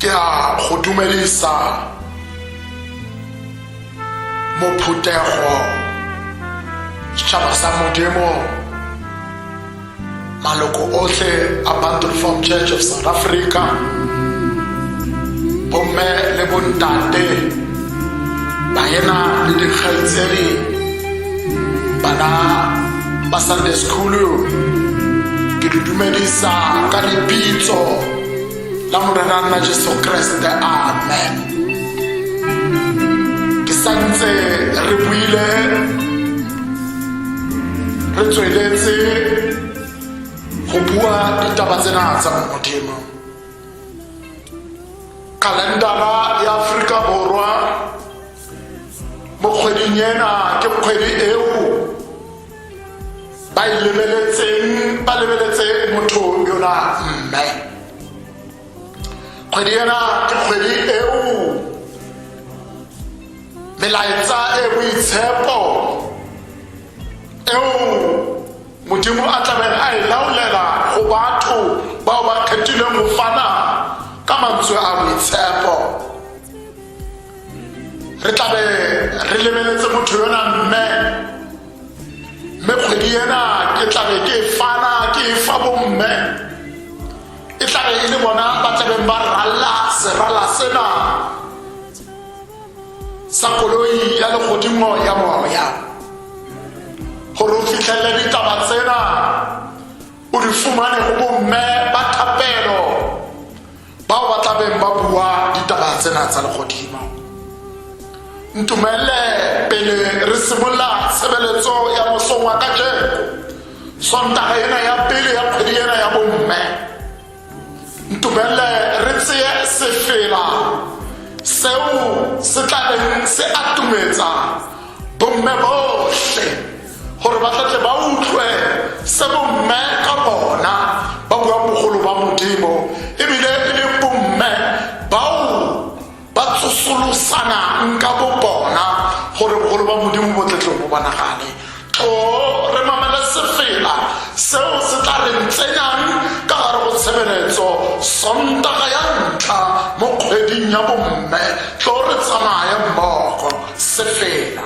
ke a go dumelisa mophuthego setšhaba sa modimo maloko otlhe a bantu reform church of south africa bomme le bontate baena le dikgaitsedi bana ba sunday school ke le dumedisa ka lebitso la morena nna jesu kreste amen ke santse re buile re tsweletse go bua ditaba tsena tsa modimo kalendara ya aforika borwa mo kgweding ena ke kgwedi eo ba e lebeletseng ba lebeletse motho yona mme kgwedi ena ke kgwedi eo melaetsa e boitshepo eo modimo a tlabeng a e laolela go batho bao ba kgethileng go fana ka mantswe a boitshepo re tlabe re lebeletse motho yona mme mme kgwedi ena ke tlabe ke e fana ke e fa bomme e tlabe e le bona ba tlabeng ba ralla serala sena sa koloi ya legodimo ya moya gore o fitlhelele ditaba tsena o di fumane go bomme ba thapelo bao ba tla beng ba bua ditaba tsena tsa legodimo ntumelele pele re simolola tshebeletso ya mosong wa kajeko sontaga ena ya pele ya kgwedi ena ya bomme ntumelele re tseye sefela seo se tla beng se atumetsa bomme botlhe gore ba tlatse ba utlwe se bomme ka bona ba bua bogolo ba modimo ebile e le bomme bao ba tsosolosanang ka bo bona gore bogolo ba modimo bo tletlong bo bonagale to re mamele sefela seo se tla re ntsenyang ka gare go tshebeletso sontaga ya ntlha mo kgweding ya bomme tlo re tsamaya mmogo sefela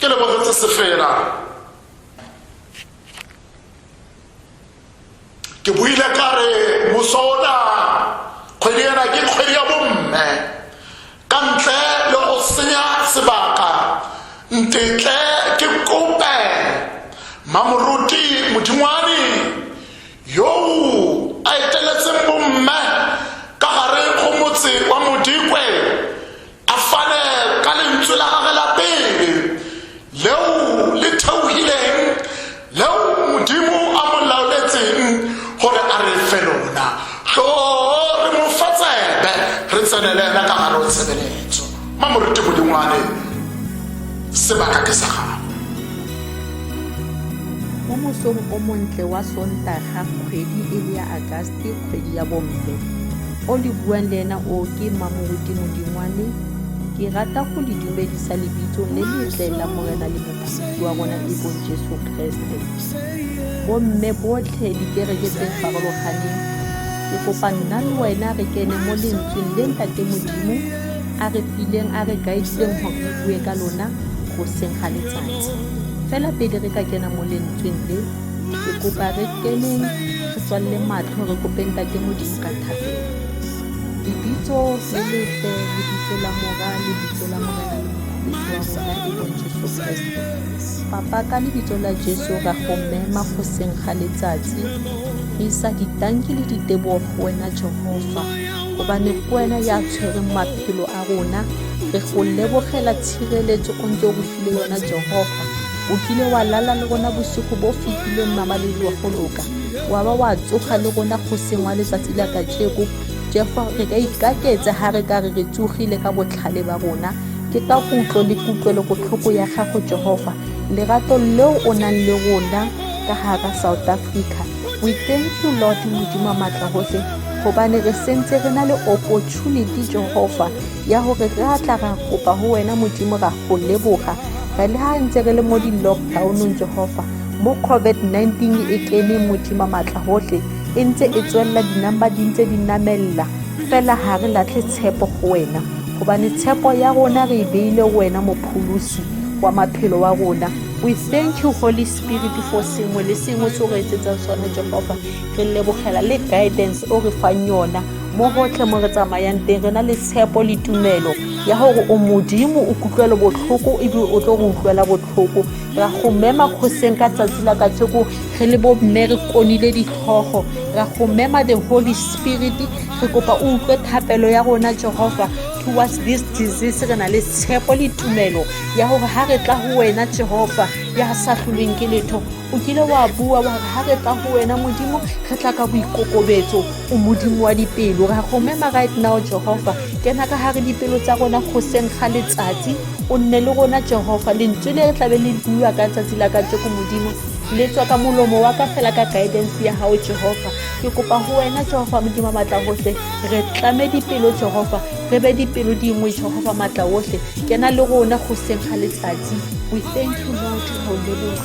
ke lebogetse sefela ke buile ka re moso ona kgwedi ena ke kgwedi ya bomme ka ntle le go senya sebaka ntetle ke kope mamoruti modingwane yoo a eteletseng bomme ka gare go motse wa modikwe a fane ka lentswe la gage la pele leo le theogileng leo modimo a mo laoletseng gore a re fe lona tlo re mo fa tsebe re tsenele ena ka gare o tshebeletso mamorete modimo wa ene sebaka ke sa gago mo mosong o montle wa sontaga kgwedi e le ya agaste kgwedi ya bomme o le buang le ena o ke mamoruti modingwane ke rata go le dumedisa lebitso le letle la morena le mophedisi wa rona e bong jesu kreste bomme botlhe dikereke tse farologaneng ke kopa nna le wena re kene mo lentsweng le ntate modimo a re fileng a re guidileng gore re bue ka lona go seng ga letsatsi fela pele re ka kena mo lentsweng le ke kopa re keneng re tswalele matlho re kopeng tate modimo ka thapelo lebitso le letle lebitso la mora lebitso la morena le mokgweetsi wa rona e bong jesu kreste papa ka lebitso la jesu ra go mema go seng ga letsatsi re isa ditanki le ditebogo go wena jehova gobane ke wena ya tshwereng maphelo a rona re go lebogela tshireletso o ntse o go file yona jehofa o kile wa lala le rona bosigo bo fetileng mamaledi wa go loka wa ba wa tsoga le rona go sengwa letsatsi la kajeko jehofa re ka ikaketse ga re ka re re tsogile ka botlhale ba rona ke ka kutlo le kutlwelo botlhoko ya gago jehofa lerato leo o nang le rona ka gara south africa we thank you lord modimo maatla gotlhe gobane re sentse re na le opportunity jehova ya gore re a tla ra kopa go wena modimo ra go leboga re le ga ntse re le mo di-lockdownong jehova mo covid-19 e kene modimo maatla gotlhe e ntse e tswelela dinamba di ntse di namelela fela ga re latlhe tshepo go wena gobane tshepo ya rona re e beile wena mopholosi wa maphelo wa rona we thank you holy spirit for sengwe le sengwe se o re etsetsang sone jehova re lebogela le guidance o re fang yona mo gotlhe mo re tsamayang teng re na le tshepo le tumelo ya gore o modimo o kutlwelo botlhoko ebe o tlo go utlwela botlhoko ra go mema kgoseng ka tsatsi la kajeko re le bomme re konile ditlhogo ra go mema the holy spirit re kopa o utlwe thapelo ya rona jehova towards this disease re na le tshepo le tumelo ya gore ga re tla go wena jehova ya sa tlholweng ke letho o kile wa bua wa re ga re tla go wena modimo re tla ka boikokobetso o modimo wa dipelo ra go mema right now jehofa kena ka gare dipelo tsa rona go seng ga letsatsi o nne le rona jehofa lentswe le re tlabe le bua ka tsatsi la ka tseko modimo le tswa ka molomo wa ka fela ka guidance ya gago jehofa ke kopa go wena jehofa modimo maatla otlhe re tlame dipelo jehofa re be dipelo dingwe jehofa maatla otlhe kena le rona go seng ga letsatsi we thank you lord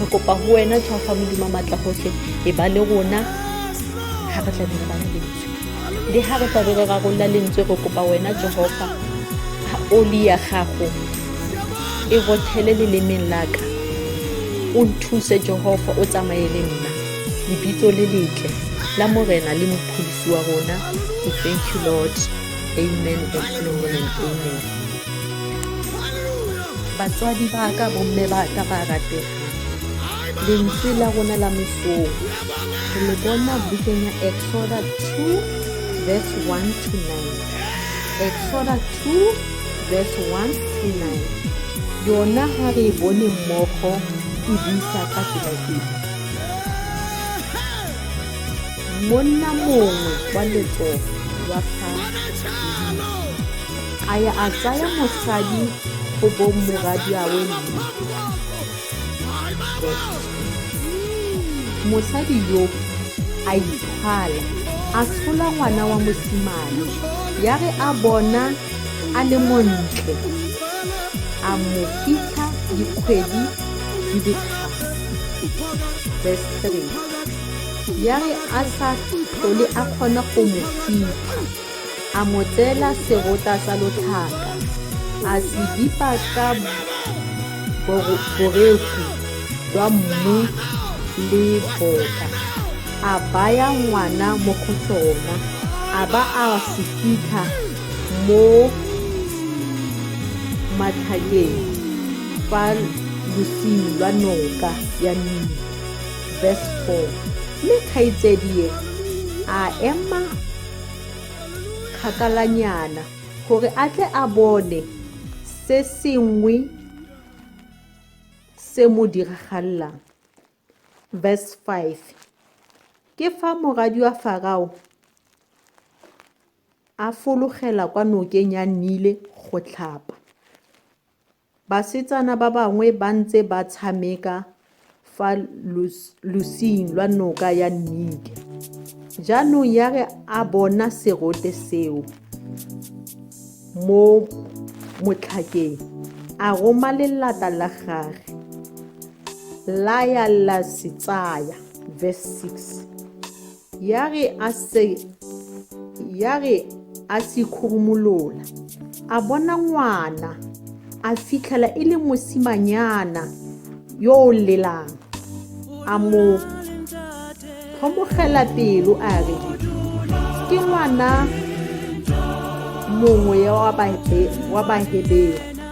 re kopa go wena tswa fa modimo maatla gotlhe e ba le rona ga re tlabe re bane lentswe le ga re tlabe re rarolola lentswe re kopa wena jehofa ga oli ya gago e rothele lelemeng laka o nthuse jehofa o tsamaye le nna lebitso le letle la morena le mophodisi wa rona we thank you lord amen and amen and amen batswadi ba ka bomme ba ka ba ratega lentswe la rona la mesong re le bona bukeng ya exoda 2 verse 1 to 9 exoda 2 verse 1 to 9 yona ga re e bone mmogo e buisa ka tsela e monna mongwe wa letsogo wa fa a ya a tsaya mosadi go bong moradiawe mme mosadi yo a ikgala a tshola ngwana wa mosimane ya re a bona a le montle a mo fitlha dikgwedi di le verse 3 ya re a sa tlhole a kgona go mo fitlha A mo tseela serota sa lotlhaka, a se bipa ka boreku jwa mmu le boka, a baya ngwana mo go sona, a ba a se fitlha mo matlhakeng fa losing lwa noka ya Nile. Verse 4. Mme kgaitsedie a ema kgakalanyana gore a tle a bone se sengwe se mo diragalelang verse 5 ke fa moradi wa farao a fologela kwa nokeng ya nile go tlhapa Basetsana ba bangwe ba ntse ba tshameka fa losing lwa noka ya Nike. Jaanong ya re a bona serote seo mo motlhakeng, a roma lelata la gage la ya la se tsaya, verse 6. ya re a se ya re a se khurumolola a bona ngwana a fitlhela e le mosimanyana yo o lelang a mo tlhomogela pelo a re ke ngwana mongwe wa bahebero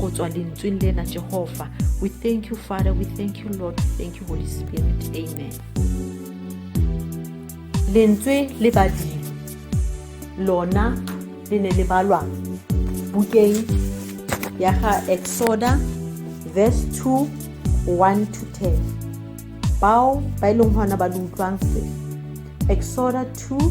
go tswa lentsweng lena jehofa we thank you father we thank you lord we thank you holy spirit amen lentswe le badimo lona le ne le balwa bukeng ya ga exoda verse 2 1 to 10 bao ba e leng gona ba le utlwang se exoda 2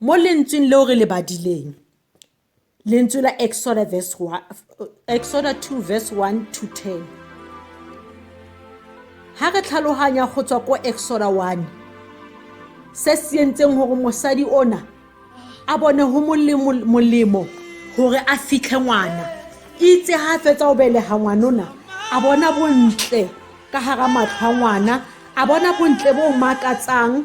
mo lentsweng leo re le badileng lentswe la exoda verse 1 exoda 2 verse 1 to 10 ha re tlhaloganya go tswa ko exoda 1 se se entseng gore mosadi ona a bone go molemo gore a fitlhe ngwana itse ga fetsa o belega ngwanona a bona bontle ka gara matlho a ngwana a bona bontle bo makatsang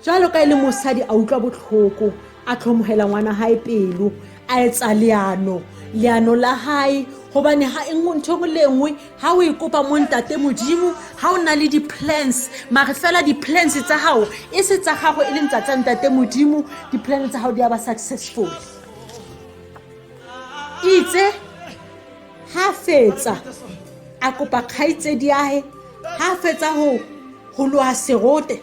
jalo ka e le mosadi a utlwa botlhoko a tlhomogela ngwana gae pelo a etsa leano leano la gae gobane ga e nngwe ntho engwe le engwe ga o e kopa mo ntate modimo ga o na le di-plans mare fela di-plans tsa gago e se tsa gago e leng tsa tsa ntate modimo di-plan tsa gago di a ba successful itse ha fetsa a kopa kgaitsedi ahe ha fetsa ho ho loa serote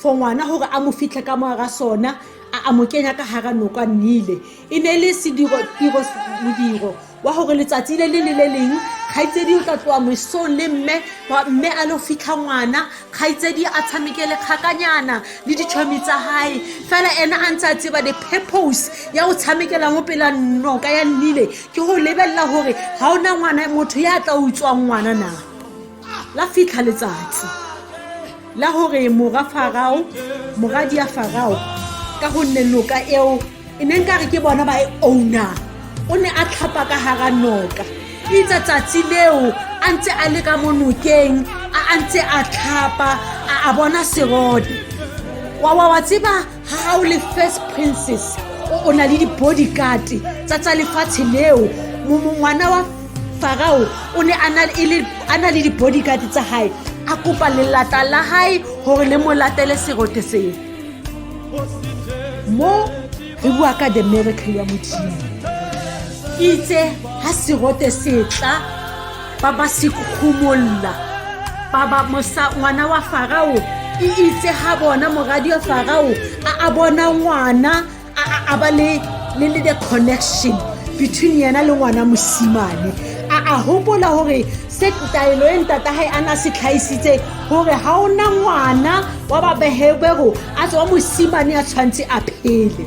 for ngwana hore a mo fitlhe ka moara sona a a mo kenya ka hara noka nile e ne le sediro tiro modiro wa hore letsatsi le le le le leng kgaitsedi o tla tloa mosong le mme mme a lo fitlha ngwana kgaitsedi a tshameke le kgakanyana le ditšhomi tsa gae fela ena a ntse a tseba the purpose ya go tshamekela mo pela noka ya nnile ke go lebelela gore ga ona ngwana motho ya tla utswang ngwana na la fitlha letsatsi la gore mora farao moradi ya farao ka gonne noka eo e neng ka re ke bona ba e owner o ne a tlhapa ka gara noka itsa tsatsi leo a ntse a le ka mo nokeng a ntse a tlhapa a bona serode wa wa wa tseba ga o le first princess o na le di-bodyguard tsa tsa lefatshe leo ngwana wa farao o ne a na le di-bodyguard tsa gae a kopa lelata la gae gore le mo latele serote seo mo re bua ka the miracle ya modimo itse ga serote setla ba ba sekgomolola ba ba mosa ngwana wa farao e itse ga bona moradi wa farao a a bona ngwana a a- a ba le le le the connection between yena le ngwana mosimane a a hopola gore se taelo e ntata gae a na se tlhaisitse gore ga o na ngwana wa babehebego a tswa mosimane a tshwanetse a phele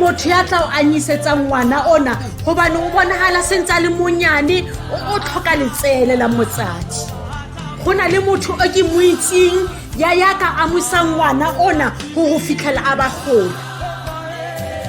motho ya tla o anyisetsang ngwana ona gobane o bonagala sentse a le monyane o tlhoka letsele la motsadi go na le motho o ke mo itseng ya yaka amusa ngwana ona go go fitlhela a ba gola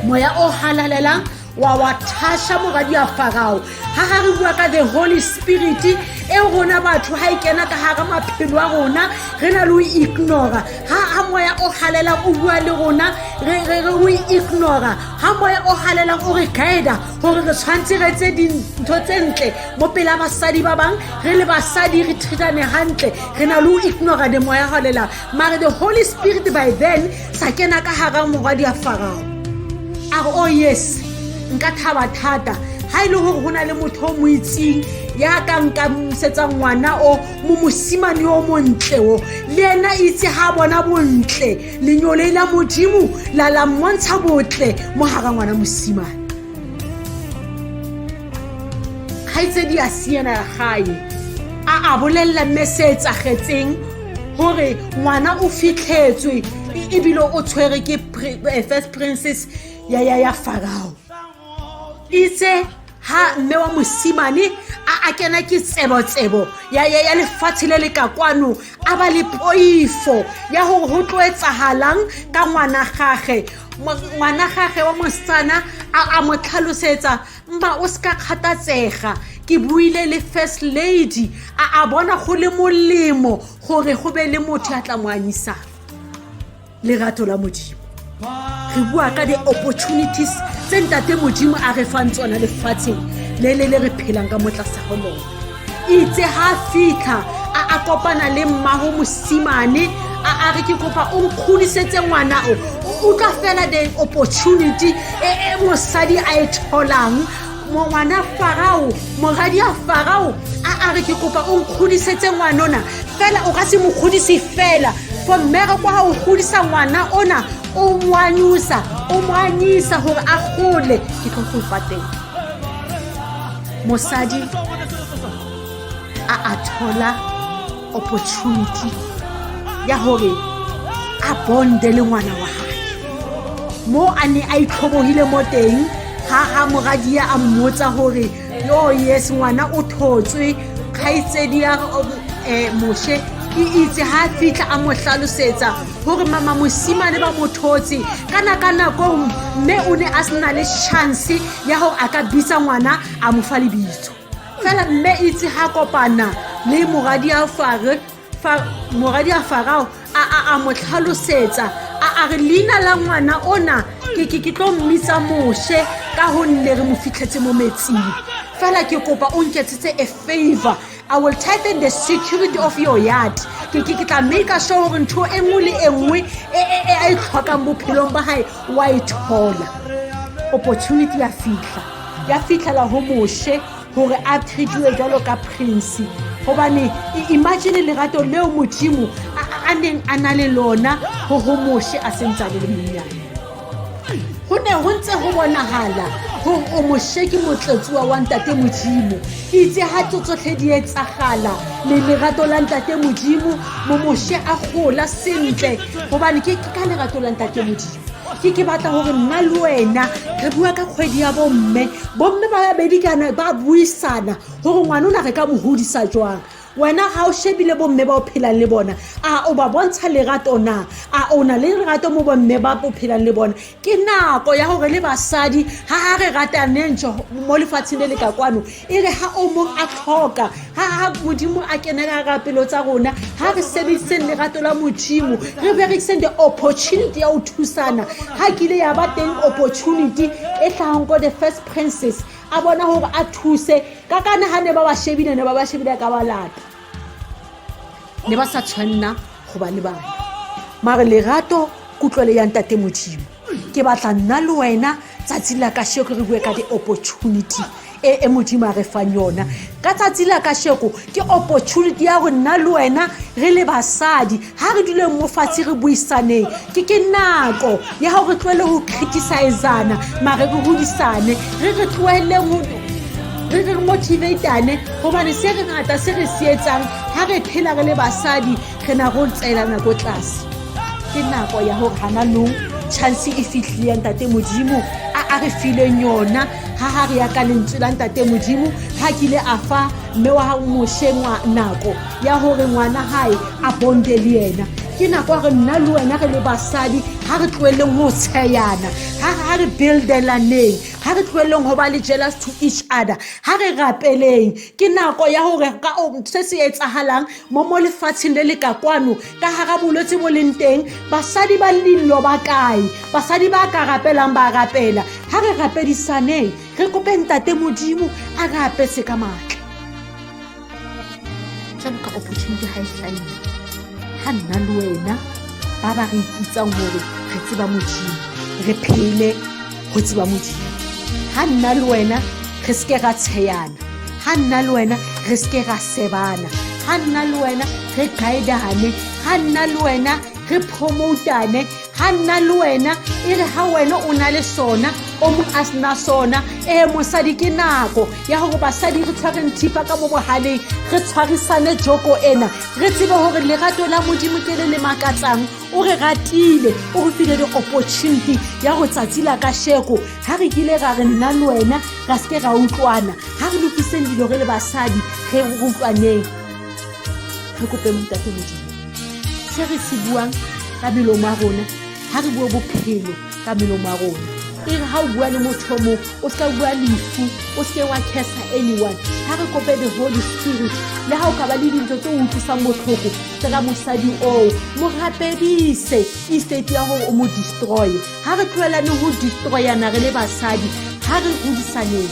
moya o halalelang wa wa thasha moradi ya farao ga ga re bua ka the holy spirit e rona batho ga e kena ka gara maphelo a rona re na le o ignora ga ga moya o galela o bua le rona re re re o ignora ga moya o galela o re guida gore re tshwanetse re tse dintho tse ntle mo pela basadi ba bangwe re le basadi re thritane gantle re na le o ignora the moya galela mare the holy spirit by then sa kena ka gara morwadi ya farao a re oh yes nka thaba thata ha e le gore go na le motho o mo itseng ya ka nka mosetsa ngwana o mo mosimane o montle o le ena itse ga bona bontle lenyolei la modimo la la mmontsha botle mo gara ngwana mosimane kgaitsedi a siena ya gae a a bolelela mme se etsagetseng gore ngwana o fitlhetswe e, ebile o tshwere ke eh, first princess ya ya ya farao itse ha mme wa mosimane a a kena ke tsebo-tsebo ya ya ya lefatshe le le ka kwano a ba le poifo ya gore go tlo etsagalang ka ngwana gage ngwana gage wa mosetsana a mo tlhalosetsa mma o se ka kgathatsega ke buile le first lady a a bona go le molemo gore go be le motho ya tla mo anyisang lerato la modimo re bua ka di-opportunities tse ntate modimo a re fang tsona lefatsheng le le le re phelang ka motlasagolone itse ga a fitlha a a kopana le mmago mosimane a a re ke kopa o nkgodisetse ngwana o o tla fela the opportunity e e mosadi a e tholang ngwana farao moradi ya farao a a re ke kopa o nkgodisetse ngwanona fela o ka se mo kgodise fela for mmere kwa ga o godisa ngwana ona o moanyisa o moanyisa gore a gole ke tlo go patela mosadi a a thola opportunity ya gore a bonde le ngwana wa gage mo a ne a itlhobogile mo teng ga ga moradia a mmotsa gore yo yes ngwana o thotswe kgaitsedi ya um, eh, moshe ke itse ga fitlha a mo tlhalosetsa gore mama mosimane ba mo thotse kana ka nako mme o ne a sena le chance ya gore a ka bitsa ngwana a mo fa lebitso fela mme itse ga kopana le moradi a fare moradi a farao a a mo tlhalosetsa a a re leina la ngwana ona ke ke ke tlo mmitsa moshe ka gonne re mo fitlhetse mo metsing fela ke kopa o nketsetse a favor I will tighten the security of your yard ke ke ke tla make sure gore ntho e nngwe le e nngwe e e- e a e tlhokang bophelong ba gae wa e thola opportunity ya fitlha ya fitlhela go moshe gore a treatiwe jalo ka prince gobane i- imagine lerato leo modimo a- a a neng a na le lona go go moshe a sentse a le le monnyane ho ne ho ntse ho bonahala hore o mosheki motletsuwa wa ntate modimo itse ha tso tsotlhe di etsagala le lerato la ntate modimo momoshe a gola sentle gobane ke ka lerato la ntate modimo ke ke batla gore nna le wena re bua ka kgwedi ya bomme bomme ba babedi kana ba buisana gore ngwane o na re ka mo godisa jwang wena ga o shebile bomme ba o phelang le bona a o ba bontsha lerato na a o na le lerato mo bomme ba o phelang le bona ke nako ya gore le basadi ga a re rataneng mo lefatsheng le le ka kwano e re ga o mong a tlhoka ga modimo a kenela ra pelo tsa rona ga re sebediseng lerato la modimo re berekiseng the opportunity ya go thusana ga kile ya ba teng opportunity e tlhagang ko the first princess a bona gore a thuse ka kana ga ne ba ba shebile ne ba ba shebile ka balata ne ba sa tshwanna go ba le bana mare lerato kutlwele ya ntate modimo ke batla nna le wena tsatsi la ka sheko re bue ka di-opportunity e e modimo a re fang yona ka tsatsi la ka sheko ke opportunity ya go nna le wena re le basadi ha re duleng mo fatshe re buisaneng ke ke nako ya gore re tlohele go criticizana mare re godisane re re tloheleng re re motivatane gobane se re ngata se re se etsang ga re phela re le basadi re na go tseelana ko tlase ke nako ya gore gana nong chance e fitlhile ntate modimo a a re fileng yona ga ga re ya ka lentswe la ntate modimo ga kile a fa mme wa gago mošeng wa nako ya gore ngwana gae a bonde le ena ke nako ya re nna le wena re le basadi ga re tloeleng go tsheyana ga re buildelaneng ga re tloeleng go ba le jealous to each other ga re rapeleng ke nako ya gore ka se se etsagalang mo mo lefatsheng le le ka kwano ka gara bolwetse bo leng teng basadi ba lillo ba kae basadi ba ka rapelang ba rapela ga re rapedisaneng re kopeng tate modimo a re apetse ka maatla jalo ka opportunity ga e tlhaile ga nna le wena ba ba re iputsang gore re tseba modimo re phele go tseba modimo ga nna le wena re seke ra tsheyana ga nna le wena re seke ra sebana ga nna le wena re guidane ga nna le wena re promotane ga nna le wena e re ga wena o na le sona o mo a sena sona ee mosadi ke nako ya gore basadi re tshwareng thipa ka mo bogaleng re tshwarisane joko ena re tsebe gore lerato la modimo ke le le makatsang o re ratile o re file di-opportunity ya go tsatsi la ka sheko ga re kile ra re nna le wena ra seke ra utlwana ga re lokiseng dilo re le basadi re utlwaneng re kope motate modimo se re se buang ka melomo a rona ga re bue bophelo ka melomo a rona e re ga o bua le motho o mongwe o seka bua lefu o seke wa casa anyone ga re kope the holy spirit le ga o ka ba le dintlo tse o utlwisang botlhoko tsela mosadi oo mo rapedise estate ya gore o mo destroye ga re tlhoelane go destroyana re le basadi ga re godisaneng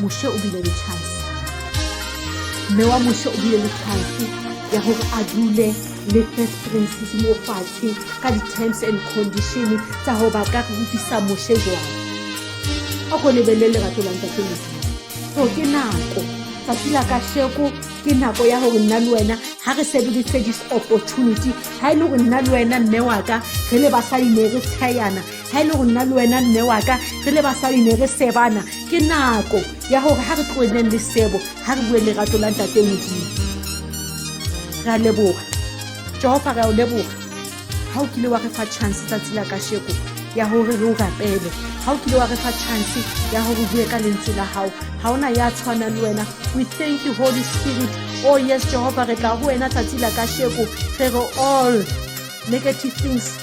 moshe o bile le chance mme wa moshe o bile le chance ya gore a dule le first princess mo fatshe ka di-terms and condition tsa gore ba ka rutisa moshe jwang a ko lebelele lerato la ntate moshe so ke nako tsatsi la kasheko ke nako ya gore nna le wena ga re sebedise this opportunity ga e le gore nna le wena mme waka re le basadi ne re tshayana ga e le go nna le wena mme waka re le basadi ne re sebana ke nako ya gore ga re tloeleng le sebo ga re bue lerato la ntate modimo re a leboga jehova re a o leboga ga o kile wa re fa chance tsatsi la kasheko ya gore re o rapele ga o kile wa re fa chance ya gore bue ka lentswe la gago ga ona ya tshwana le wena we thank you holy spirit oh yes jehova re tla go wena tsatsi la kasheko re re all negative things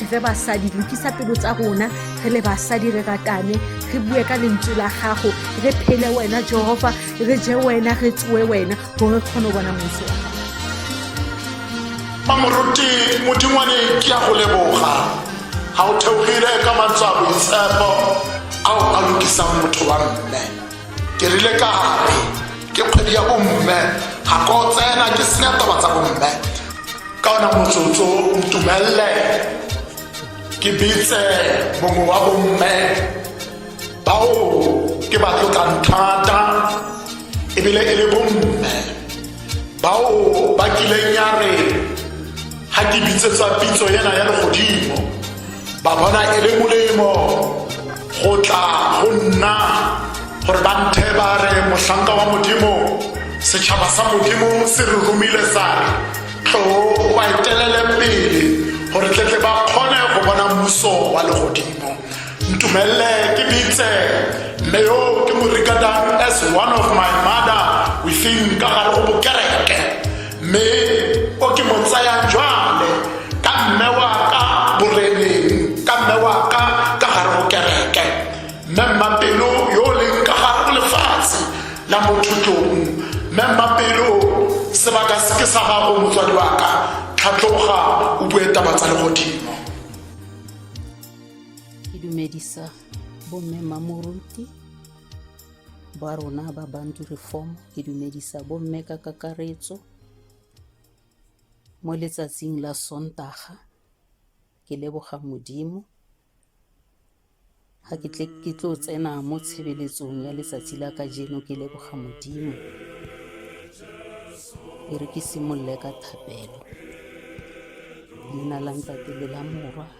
re fe basadi lokisa pelo tsa rona re le basadi re ratane re bue ka lentswe la gago re phele wena jehova re je wena re tsoe wena gore re kgone go bona motse wa gago mamoruti modingwane ke ya go leboga ga o theogile ka mantswe a boitshepo ao a lokisang motho wa mme ke rile ka re ke kgwedi ya bomme ga ko tsena ke senya taba tsa bomme ka ona motsotso ntumelele ke bitse mongwe wa bomme bao ke ba tlotlang thata ebile e le bomme bao ba kileng ya re ga ke bitsetsa pitso ena ya legodimo ba bona e le molemo go tla go nna gore ba nthe ba re mohlanka wa modimo setšhaba sa modimo se re romile sa re tlo ba etelele pele gore tletle ba kgone go bona mmuso wa legodimo ntumelele ke bitse mme yo ke morikadang as one of my mother within ka gare go bokereke mme o ke mo tsayang jwale ka mme wa ka boreneng ka mme wa ka ka gare go kereke mme mmapelo yo o leng ka gare go lefatshe la mothutlong mme mmapelo sebaka se ke sa gago motswadi wa ka tlhatlhoga o bue taba tsa legodimo ke dumedisa bomme mamoruti ba rona ba bantu reform ke dumedisa bomme ka kakaretso mo letsatsing la sontaga ke leboga modimo ga ke tle ke tlo tsena mo tshebeletsong ya letsatsi la ka jeno ke leboga modimo e re ke simolole ka thapelo leina la ntate le la morwa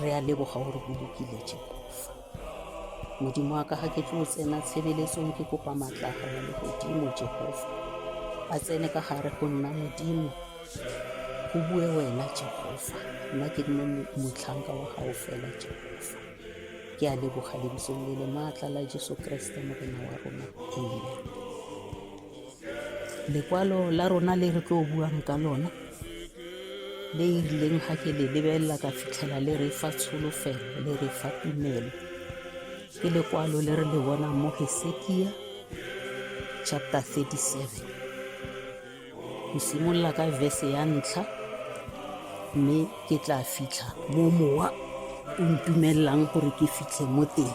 Re a leboga gore o lokile Jehofa. Modimo wa ka ga ke tlo tsena tshebeletsong ke kopa maatla a gago le godimo Jehofa. A tsene ka gare go nna Modimo. Go bue wena Jehofa. Nna ke nne motlhanka wa gago fela Jehofa. Ke a leboga lebitsong le le maatla la Jesu Kriste Morena wa rona. Amen. lekwalo la rona le re tlo buang ka lona le e rileng ga ke le lebelela ka fitlhela le re fa tsholofelo le re fa tumelo ke lekwalo le re le bonang mo hesekia chapter 37 go simolola ka verse ya ntlha mme ke tla fitlha mo mowa o ntumelelang gore ke fitlhe mo teng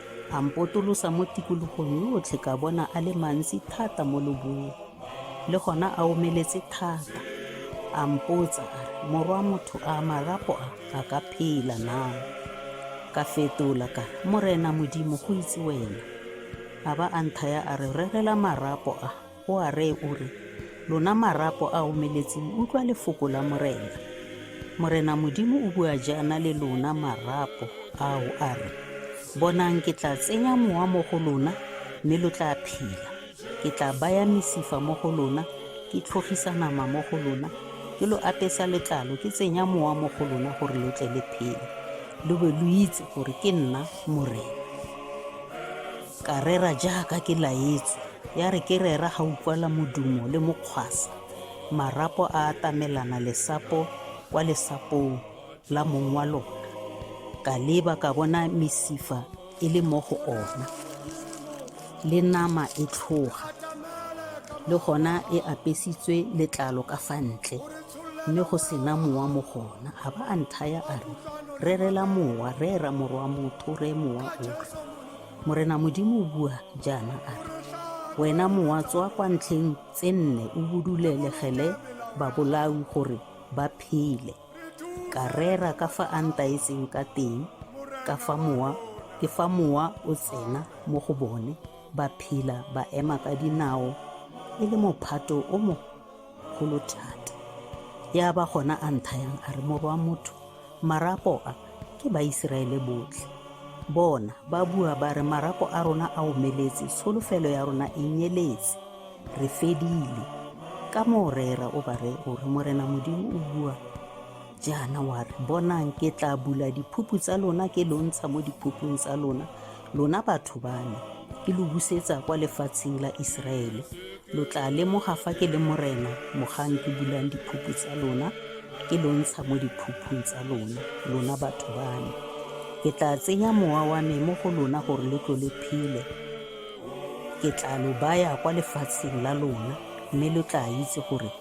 A mpotolosa mo tikologong yotlhe ka bona a le mantsi thata mo lobung, le gona a omeletse thata. A mpotsa a re, Morwa motho, a marapo a a ka phela na? Ka fetola ka re, Morena Modimo, go itse wena. A ba a nthaya a re, Rerela marapo a. O a reye o re, Lona marapo a omeletseng, utlwa lefoko la Morena. Morena Modimo o bua jaana le lona marapo ao a re, Bonang ke tla tsenya mowa mo go lona mme lo tla phela. Ke tla baya mesifa mo go lona, ke tlhogisa nama mo go lona, ke lo apesa letlalo, ke tsenya mowa mo go lona gore lo tle le phele, lo be lo itse gore ke nna Morena. Ka rera jaaka ke laetswe, ya re ke rera ga utlwala modumo le mokgwasa, marapo a atamelana lesapo kwa lesapong la mong wa lona. Ka leba ka bona mesifa e le mo go ona, le nama e tlhoga, le gona e apesitswe letlalo ka fa ntle, mme go sena mowa mo gona. A ba a nthaya a re, Rerela mowa, rera morwa motho, reye mowa o re. Morena Modimo o bua jaana a re, Wena mowa tswa kwa ntlheng tse nne o budulelegele babolawi gore ba phele. Ka rera ka fa a ntaetseng ka teng, ka fa mowa ke fa mowa o tsena mo go bone, ba phela ba ema ka dinao e le mophato o mo kgolo thata ya ba gona a nthayang a re moro wa motho marapo a ke baiseraele botlhe bona ba bua ba re marapo a rona a omeletse tsholofelo ya rona e nyeletse re fedile ka moo reera o ba re o re morena modimo o bua Jaana wa re, Bonang, ke tla bula diphupu tsa lona, ke lo ntsha mo diphupung tsa lona, lona batho ba me, ke lo busetsa kwa lefatsheng la Iseraele. Lo tla lemoga fa ke le Morena, mogang ke bulang diphupu tsa lona, ke lo ntsha mo diphupung tsa lona, lona batho ba me. Ke tla tsenya mowa wa me mo go lona gore lo tlo le phele. Ke tla lo baya kwa lefatsheng la lona, mme lo tla itse gore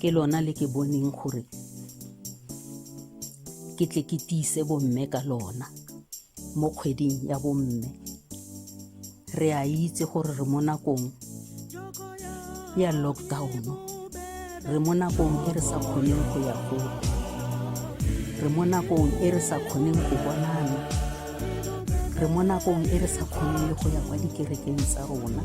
ke lona le ke boneng gore ke tle ke tiise bomme ka lona mo kgweding ya bomme re a itse gore re mo nakong ya lockdown re mo nakong e re sa kgoneng go ya gole re mo nakong e re sa kgoneng go bonana re mo nakong e re sa kgoneng le go ya kwa dikerekeng tsa rona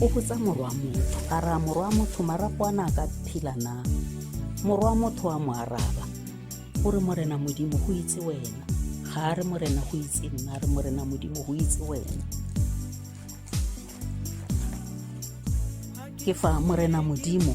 O botsa morwa motho a re a morwa motho marapo a ne a ka phila na morwa motho a mo araba o re morena modimo go itse wena ga a re morena go itse nna a re morena modimo go itse wena ke fa morena modimo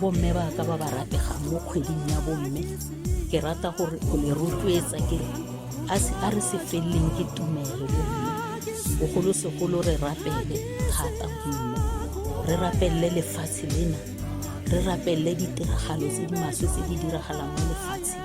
bomme ba ka ba ba rategang mo kgweding ya bomme ke rata gore o le rotloetsa ke a se a re se feleleng ke tumelo bomme bogolosegolo re rapele thata bomme re rapelele lefatshe lena re rapelele ditiragalo tse di maswe tse di diragalang mo lefatsheng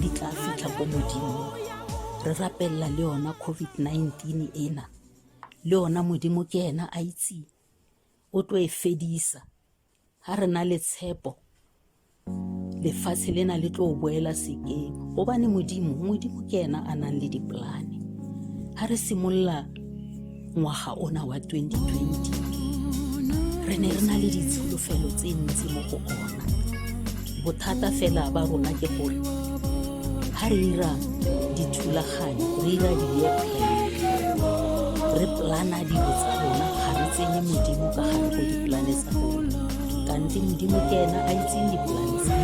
di tla fitlha ko modimong re rapelela le yona covid-19 ena le yona modimo ke ena a itseng o tlo e fedisa ga re na le tshepo lefatshe lena le tlo boela sekeng gobane modimo modimo ke ena a nang le dipolane ga re simolola ngwaga ona wa 2020 re ne re na le ditsholofelo tse ntsi mo go ona bothata fela ba rona ke gore ga re ira dithulaganyo re ira di-year plan re plana dilo tsa rona ga re tsenye modimo ka gare go diplane tsa rona kante modimo ke ena a itseng diplane tsa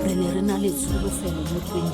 re ne re na le tsholofelo mo 20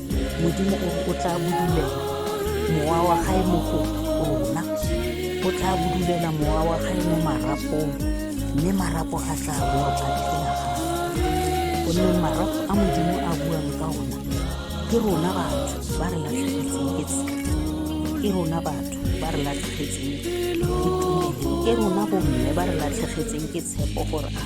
modimo o re o tla bodulela mowa wa gae mo go rona o tla bodulela mowa wa gae mo marapong mme marapo a tla boa a phela gape gonne marapo a modimo a buang ka ona ke rona batho ba re latlhegetseng ke tsela ke rona batho ba re latlhegetseng ke tumelo ke rona bomme ba re latlhegetseng ke tshepo gore a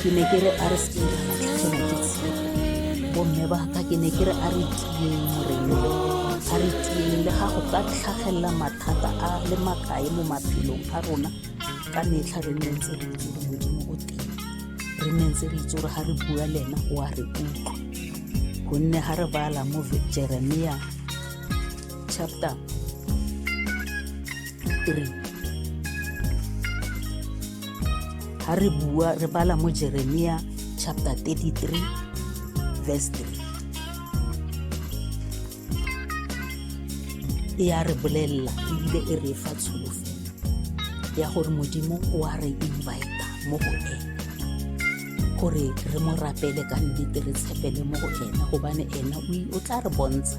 ke ne ke re a re seke ra latlhegelwa ke tshepo bomme ba ka ke ne ke re a re tieng morena a re tieng le ga go ka tlhagelela mathata a le makae mo maphelong a rona ka metlha re nne ntse re itse gore modimo o teng re nne ntse re itse gore ga re bua le ena o a re utlwa gonne ga re bala mo jeremia chapter 3 ha re bua re bala mo jeremia chapter 33 verse 3 e ya re bolelela ebile e re fa tsholofelo ya gore modimo o a re invita mo go ene gore re mo rapele ka nnete re tshepele mo go ene gobane ene o tla re bontsha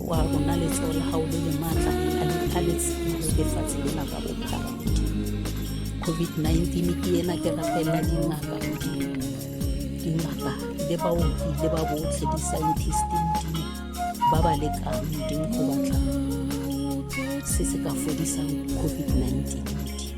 wa rona letsoho la gago le le maatla a le thaletse lefatshe lena ka bophara covid-19 ke ena ke rapela dingaka dingaka le baoki le ba botlhe di-scientist modimo ba ba lekang modimo go batla se se ka fodisang covid-19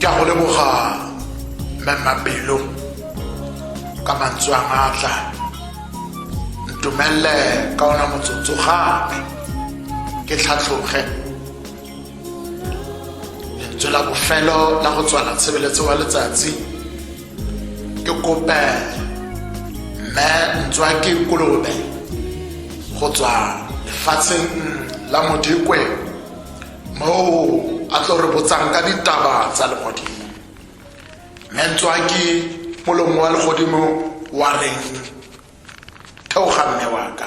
ke a go leboga mmemmapelo ka mantswe a maatla ntumelele ka ona motsotso gape ke tlhatlhoge lentswe la bofelo la go tswala tshebeletso wa letsatsi ke kope mme ntswa ke kolobe go tswa lefatsheng la modikwe moo a tlo re botsang ka ditaba tsa legodimo mme ntswa ke molomo wa legodimo wa reng theoga mme waka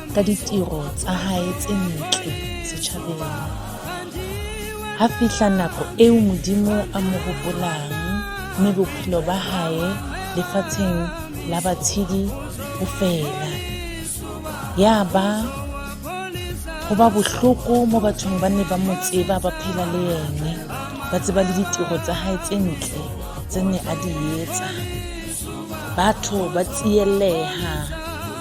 ka ditiro tsa gae tse ntle setšhabeng ga fitlha nako eo modimo a mo gopolang mme bophelo ba gae lefatsheng la batshedi go fela ya ba go ba bohloko mo bathong ba ne ba mo tseba ba phela le ene ba tseba le ditiro tsa gae tse ntle tse ne a di etsa batho ba tsieleha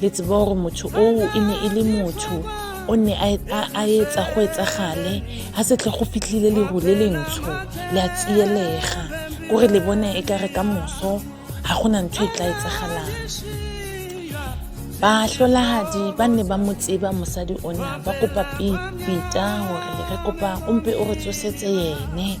le tseba gore motho oo e ne e le motho o ne a etsa go etsagale ga setlhe go fitlhile leru le lentsho le a tsielega kore le bone e ka re ka moso ga gona ntho e tla etsagalang bahlolahadi ba ne ba mo tseba mosadi ona ba kopa pita gore re kopa o mpe o re tsosetse yene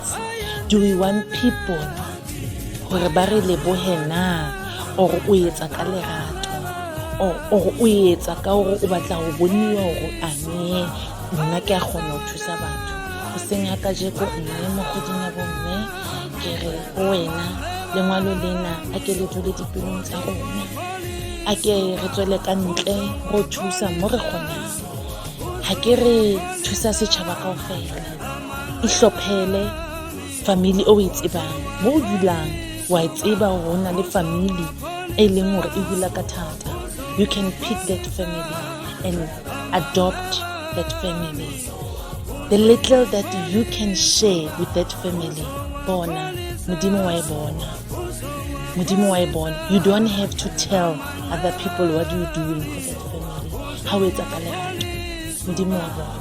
do we want people gore ba re leboge na or o etsa ka lerato or o etsa ka gore o batla go boniwa gore ane nna ke a kgona go thusa batho go seng ya kajeko mme mo kgweding ya bomme ke re go wena lengwalo lena a ke le dule dipelong tsa rona a ke re tswele ka ntle go thusa mo re kgonang ga ke re thusa setšhaba kao fela ihlophele family o e tsebang mo o dulang wa e tseba gore o na le family e leng gore e hula ka thata you can pick that family and adopt that family the little that you can share with that family bona modimo wa e bona modimo wa e bona you don't have to tell other people what you doing for that family ga o etsa ka lerato modimo wa bona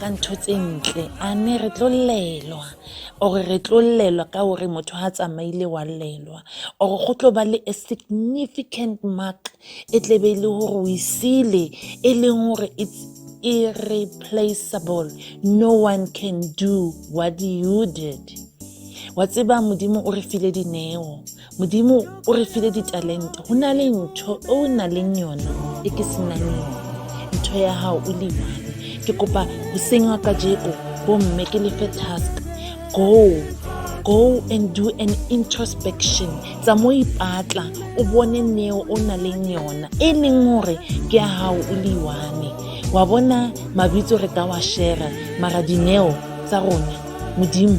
ka ntho tse ntle a ne re tlo llelwa ore re tlo llelwa ka gore motho ga tsamaile wa llelwa ore go tlo ba le a significant mark e tlebe e le gore o isile e leng gore it's irreplaceable no one can do what you did wa tseba modimo o re file dineo modimo o re file ditalente go na le ntho e o na leng yona e ke senang yone ntho ya gago o le one ke kopa go sengwa ka jeko bomme ke lefe task go go and do an introspection tsa mo ipatla o bone neo o na leng yona e leng gore ke ya gago o le one wa bona mabitso re ka wa shera mara dineo tsa rona modimo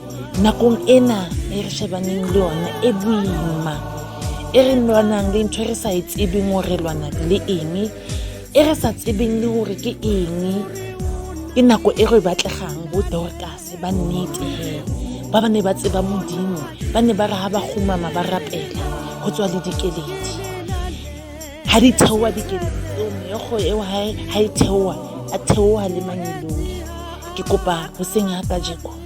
nakong ena e re shebaneng le yone e boima e re lwanang le ntho e re sa e tsebeng gore lwana le eng e re sa tsebeng le gore ke eng ke nako e re batlegang bo dorkas ba nnete he ba ba ne ba tseba modimo ba ne ba re ga ba gomama ba rapela go tswa le dikeledi ga di theoa dikeledi eo meego eo ga e theoa a theoa le manyeloi ke kopa go seng ya kajeko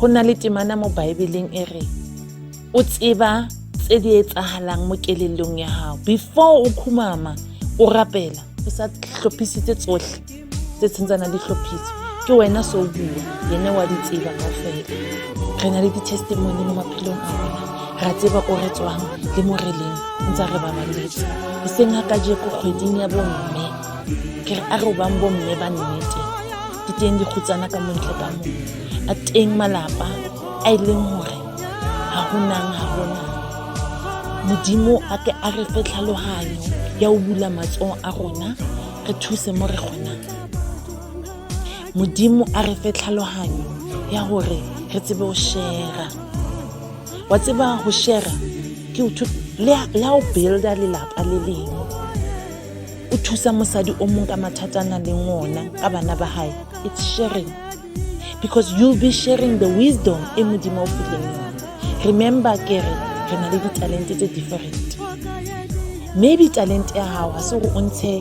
Go na le temana mo Baebeleng e re o tseba tse di etsagalang mo kelelong ya gago before o khumama o rapela o sa tlhophisitse tsotlhe tse tshentsanang di tlhophise ke wena so bua ene wa di tseba ka fela re na le di-testimony mo maphelong a rona ra tseba ko re tswang le mo re leng ntse re ba maletse e seng ga kajeko kgweding ya bomme ke re a re o bang bomme ba nnete di teng dikgutsana ka montle ka mo a teng malapa a e leng gore ga go nang ga gona modimo a ke a re fe tlhaloganyo ya o bula matsogo a rona re thuse mo re kgonang modimo a re fe tlhaloganyo ya gore re tsebe go shera wa tseba go shera ke le ha o builda lelapa le lengwe o thusa mosadi o mong ka mathata a na leng ona ka bana ba gae it's sharing because you'll be sharing the wisdom e modimo o fileng yone remember ke re re na le ditalente tse different maybe talente ya gago ga se gore o ntshe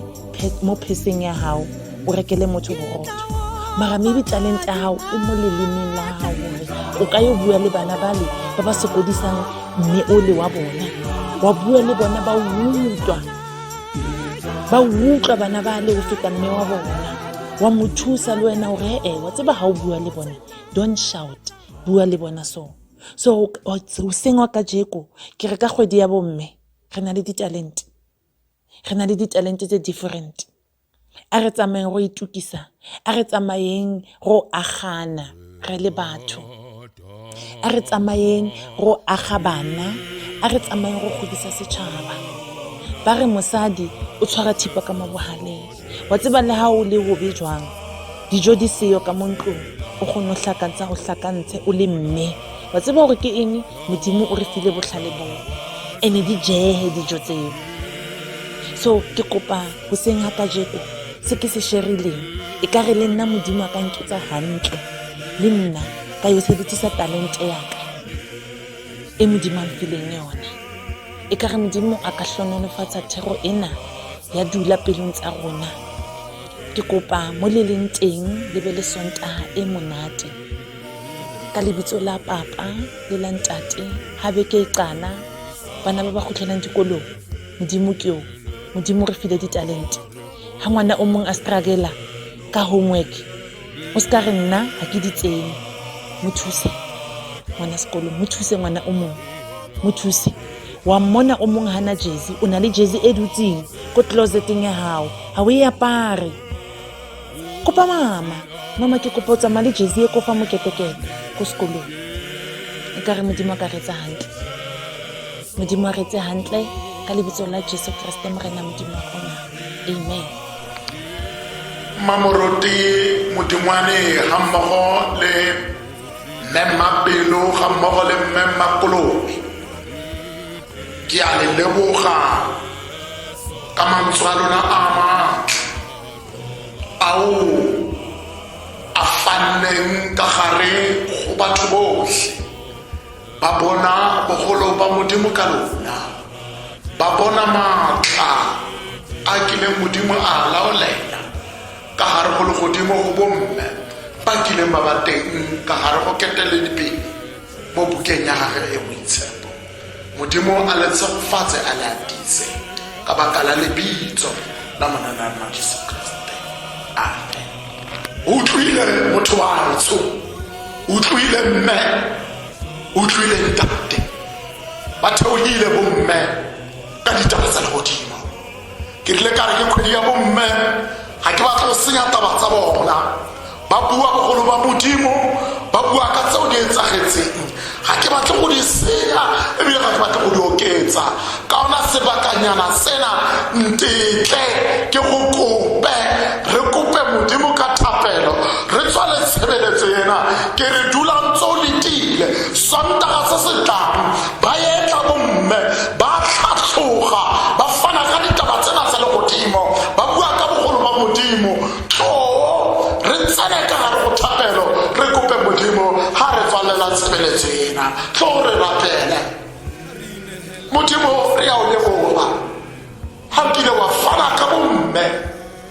mo pheseng ya gago o rekele motho borotho mara maybe talente ya gago e mo lelemeng la gago gore o ka yo bua le bana bale ba ba sokodisang mme o le wa bona wa bua le bona ba utlwa ba utlwa bana ba le o feta mme wa bona wa mo thusa le wena gore ee wa tseba ga o bua le bone don't shout bua le bona so so oseng wa ka jeko ke re ka kgwedi ya bomme re na le ditalente re na le ditalente tse different a re tsamayeng go itukisa a re tsamayeng go agana re le batho a re tsamayeng go aga bana a re tsamayeng go godisa setšhaba ba re mosadi o tshwara thipa ka mo bogaleng wa tseba le ga o le bobe jwang dijo di seyo ka mo ntlong o kgone go tlhakantsha go tlhakantshe o le mme wa tseba gore ke eng modimo o re file botlhale boo ene di jege dijo tseo so ke kopa go seng ga kajeko se ke se sherileng e ka re le nna modimo a ka nketsa gantle le nna ka yo sebedisa talente yaka e modimo a mfileng yone e ka re modimo a ka hlononofatsa thero ena ya dula pelong tsa rona ke kopa mo le leng teng le be le sontaga e monate ka lebitso la papa le la ntate ga beke e qana bana ba ba kgotlhelang dikolong modimo ke o modimo re file ditalente ga ngwana o mongwe a strugela ka homework o se ka re nna ga ke di tsene mo thuse ngwana sekolong mo thuse ngwana o mongwe mo thuse wa mmona o mongwe gana jesi o na le jesi e dutseng ko closeteng ya gago ga o e apare kopa mama mama ke kopa o tsamaya le jesi e ko fa moketekete ko sekolong e ka re modimo a ka retse gantle modimo a retse gantle ka lebitso la jesu keresete morena modimo wa gona amen mmamoroti modingwane ga mmogo le mmemmapelo ga mmogo le mmemmakolobe ke a le leboga ka mantswe a lona a matle ao a fanneng ka gare go batho botlhe ba bona bogolo ba modimo ka lona ba bona maatla a kileng modimo a laolela ka gare go legodimo go bomme ba kileng ba ba teng ka gare go keteledipele mo bukeng ya gage e boitshepo Modimo a le tshegofatse a le atise ka baka la lebitso la monanarma jesu kriste amen utlwile motho wa ntsho utlwile mme utlwile ntate ba theogile bomme ka ditaba tsa legodimo ke rile ka re ke kgwedi ya bomme ga ke batla go senya taba tsa bona ba bua bogolo ba modimo ba bua ka tseo di etsagetseng ga ke batle go di senya ebile ga ke batle go di oketsa ka ona sebakanyana sena ntetle ke go kope re kope modimo ka thapelo re tswale tshebeletso ena ke re dulang tso letile sontaga se se tlang ba etla bomme ba tlhatlhoga ba fana ka ditaba tsena tsa legodimo ba bua ka bogolo ba modimo too re tsene ka gare go thapelo re kope modimo ga re tswalela tshebeletso ena tlo re rapele modimo re ya o leboga ga nkile wa fana ka bomme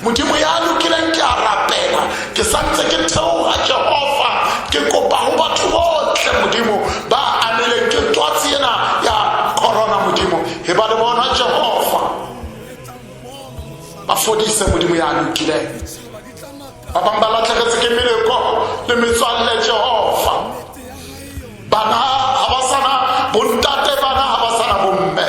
modimo ya lokileng ke a rapela ke santse ke theoga jehova ke kopa go batho botlhe modimo ba amileng ke twatsi ena ya corona modimo e ba le bona jehova ba fodise modimo ya lokileng ba bangwe ba latlhegetse ke meleko le metswalle jehova bana ga ba sana bontate bana ga ba sana bomme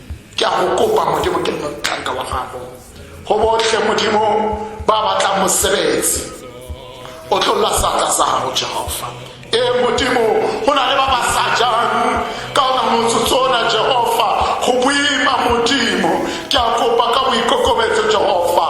ke a go kopa modimo ke motlhanka wa gago go botlhe modimo ba batlang mosebetsi o tlolla seatla sa gago jehova ee modimo go na le ba ba sa jang ka ona motsotso ona jehova go boima modimo ke a kopa ka boikokobetso jehova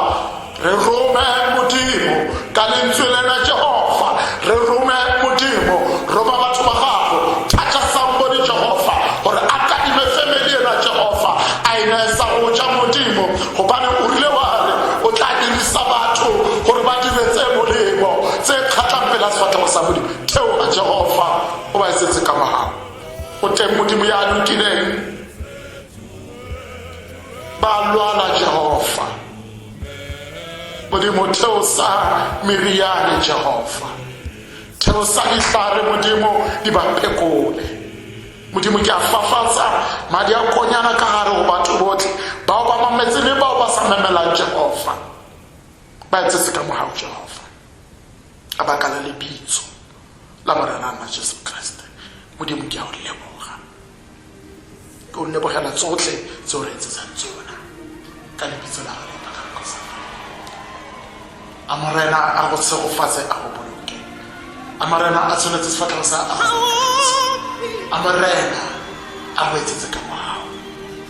re rome modimo ka lentswe lena jehofa re rome modimo roma batho ba gago thata sambodi jehofa gore a kadime family ena jehofa a e neye sa go ja modimo gobane o rile wa re o tla dirisa batho gore ba dire tse molemo tse kgatlhang pela sefatlhego sa modimo theo a jehofa o ba e setse ka magago o teng modimo ya lokileng ba lwala jehova modimo theosa meriane jehova theosa ditlare modimo di ba phekole modimo ke a fafatsa madi a konyana ka gare go batho botlhe bao ba mametse le bao ba sa memelang jehova ba etse se ka mogago jehova a baka la lebitso la morena nna jesu kriste modimo ke a o leboga ke o lebogela tsotlhe tse o re etsetsang tsona ka lebitso la gago la gago sa a morena a go tshegofatse a go boloke a morena a tshwanetse sefatlhego sa a go a morena a go etsetse ka